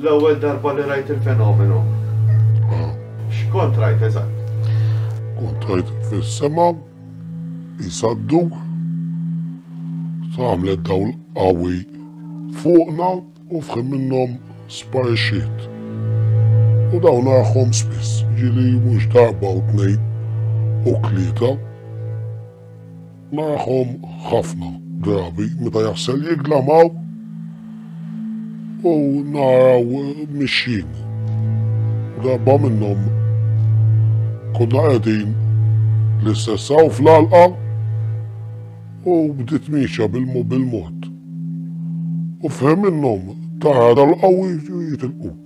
L-ewwel darba li rajt il-fenomenu. Ah. X'kont rajt eżatt? Kont rajt fis-sema jisaddu tagħmlet dawl qawwi fuqna u fħim minnhom sparixxiet. U dawn għahom spiss ġili mhux darba u tnejn u tlieta. Magħhom ħafna drabi meta jaħsel jigglamaw u naraw mixjin. Darba minnhom konna qegħdin l-istess hawn fl-alqa u bdiet mixja bil-mod. U fhem minnhom tara dal-qawwi jitilqu.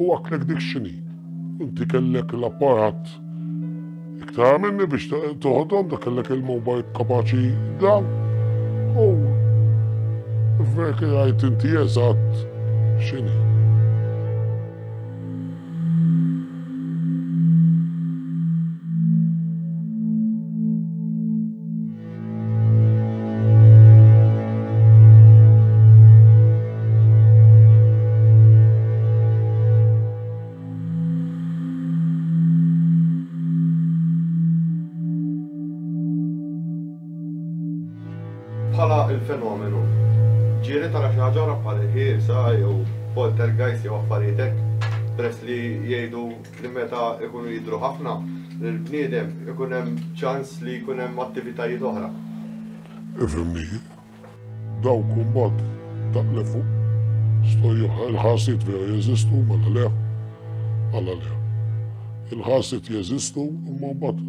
U għaklek dik xini? Inti kellek l-apparat iktar minni biex toħodhom, da kellek il-mobile kapaċi dan. U vek għajt inti eżatt xini. Bħala il-fenomenu, ġieli tara xi ħaġa oħra bħal ħielsa jew poltergeist jew affarijiet hekk peress li jgħidu li meta jkunu jidhru ħafna lill-bniedem ikun hemm ċans li jkun hemm attivitajiet oħra. Ifhimni jien. Dawk imbagħad ta' 'l fuq stojjuh il-ħarsiet vera jeżistu mela le? Għala le? Il-ħarsiet jeżistu imma mbagħad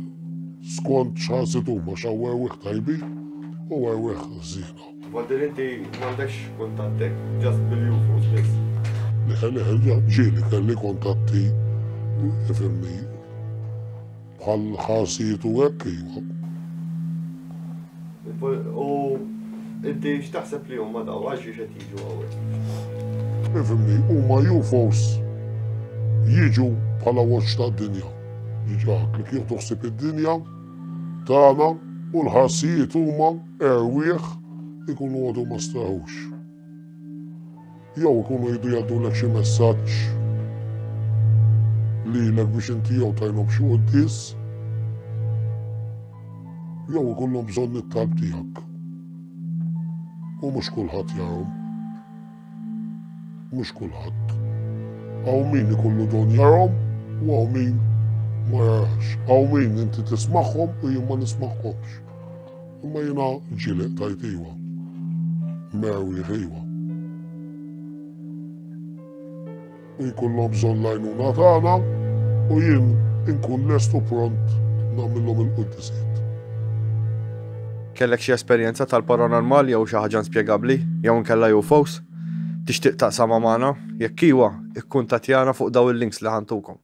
skont x'ħarsiet huma x'hawn erwieħ tajbin u erwieħ ħżiena. Waddil inti m'għandekx kuntattek, just bil-UFOs biss. Ġieli kelli kuntatti ifhimni bħal ħarsijiet u hekk iva. U inti x'taħseb li huma daw għax biex qed jiġu hawnhekk? Ifhimni, huma UFOs jiġu bħala watch tad-dinja. Jiġu li kieku toħsib id-dinja tagħna u l-ħarsijiet huma Erwieħ ikunu għadu ma straħux. Jew ikunu jridu jgħaddulek xi messaġġ lilek biex inti jew tajlhom xi quddies jew ikollhom bżonn it-talb tiegħek. U mhux kulħadd jarhom. Mhux kulħadd. Hawn min ikollu don jarhom u hawn min ma jarax. Hawn min inti tismagħhom u jien ma nismagħhomx. Imma jiena ġileq tajt iwa. Mew jħiwa. U jkollhom bżonn l-għajnuna tagħna u jien inkun lest u pront nagħmilhom il-quddisiet. Kellek xi esperjenza tal-paranormal jew xi ħaġa inspjegabbli jew inkella UFOs? Tixtieq taqsamha magħna? Jekk iwa, ikkuntattjana fuq dawn il-links li ħa ntukom.